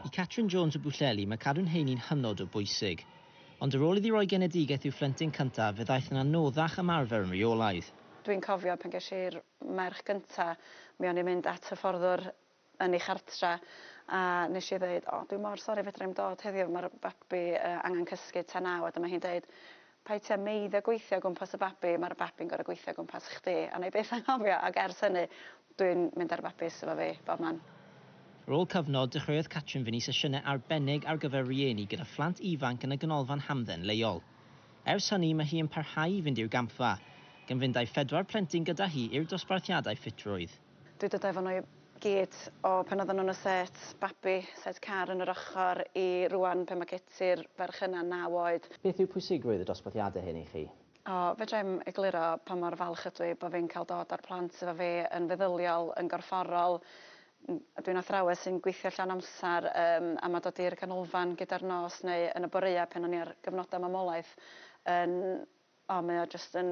I Catrin Jones o Bwllheli, mae cadw'n heini'n hynod o bwysig. Ond ar ôl iddi roi genedigaeth i'w phlentyn cyntaf, fe ddaeth yn anoddach ymarfer yn reolaidd. Dwi'n cofio pan ges i'r merch gynta, mi o'n i'n mynd at hyfforddwr yn ei chartra a nes i ddeud, 'O, dwi mor sori fedra i'm dod heddiw, ma'r babi angen cysgu tan naw', a dyma hi'n deud, Pai ti a meiddia gweithio o gwmpas y babi ma'r babi'n goro gweithio o gwmpas chdi a nai byth anghofio ag ers hynny dwi'n mynd a'r babis efo fi bob man. Ar ôl cyfnod, dechreuodd Catrin fynnu sesiynau arbennig ar gyfer rhieni gyda phlant ifanc yn y Ganolfan Hamdden leol. Ers hynny mae hi yn parhau i fynd i'r gampfa, gan fynd â'i phedwar plentyn gyda hi i'r dosbarthiadau ffitrwydd. Dwi 'di dod efo n'w i gyd o pan oddan n'w yn y set babi, set car yn yr ochor, i rŵan pan ma' Keti'r ferch yna naw oed. Beth yw pwysigrwydd y dosbarthiadau hyn i chi? O, fedrai'm egluro pa mor falch ydw i bo' fi'n cael dod â'r plant efo fi yn feddyliol, yn gorfforol. Dw i'n athrawes sy'n gweithio llawn amser yym a ma' dod i'r ganolfan gyda'r nos neu yn y boreua' pan o'n i ar gyfnoda' mamolaeth yn o mae o jyst yn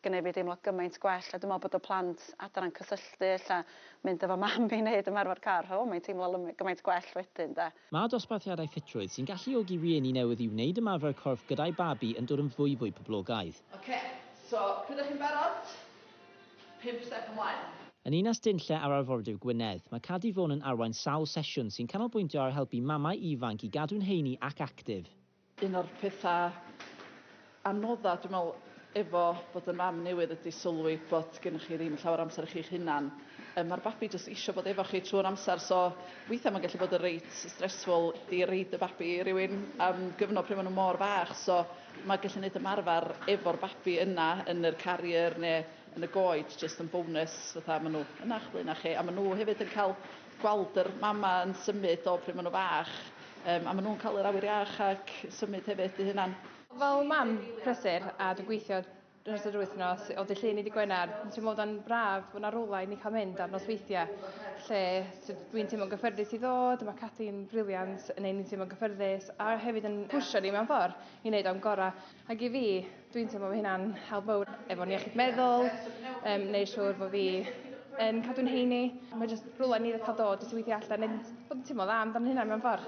gneud fi deimlo gymaint gwell a dwi me'wl bod y plant adre'n cysylltu ella mynd efo mam i neud ymarfer car o mae'n teimlo lymy- gymaint gwell wedyn 'de. Mae dosbarthiadau ffitrwydd sy'n galluogi rhieni newydd i wneud ymarfer corff gyda'u babi yn dod yn fwyfwy poblogaidd. Oce, so pryd dych chi'n barod? Pump step ymlaen. Yn Ninas Dinlle ar Arfordir Gwynedd, mae Cadi Fôn yn arwain sawl sesiwn sy'n canolbwyntio ar helpu mamau ifanc i gadw'n heini ac actif. Un o'r petha anodda dwi me'wl efo bod yn fam newydd ydi sylwi bod gennych chi ddim llawer o amser i chi'ch hunan. Yym ma'r babi jyst isio bod efo chi trw'r amser so weithia' ma'n gallu bod yn reit stressful i roid y babi i rywun am gyfnod pryd ma' nw mor fach so ma' gallu neud ymarfar efo'r babi yna yn yr carrier ne' yn y goed jyst yn bonus fatha ma' nw yn 'ych blaena' chi a ma' nw hefyd yn ca'l gweld yr mama yn symud o pryd ma' nw fach yym a ma' nw'n ca'l yr awyr iach ac symud hefyd 'u hunan. Fel mam prysur a dwi'n gweithio dros yr wythnos o dy Llun i dy Gwener dwi'n teimlo fod o'n braf bo' 'na rywle i ni ca'l mynd ar nosweithie lle t'od dwi'n teimlo'n gyffyrddus i ddod a ma' Cathy'n briliant yn neu' ni teimlo'n gyffyrddus a hefyd yn pwsio ni mewn ffor i neud o'n gora. Ac i fi, dwi'n teimlo fy hunan help fawr efo'n iechyd meddwl, um, neu siwr fod fi yn cadw'n heini. Mae jyst rhywle ni dda dod, jyst i weithio allan, neu bod yn teimlo dda amdano'n hunan mewn ffordd.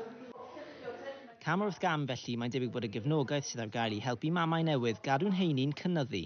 Cam wrth gam felly, mae'n debyg bod y gefnogaeth sydd ar gael i helpu mamau newydd gadw'n heini'n cynyddu.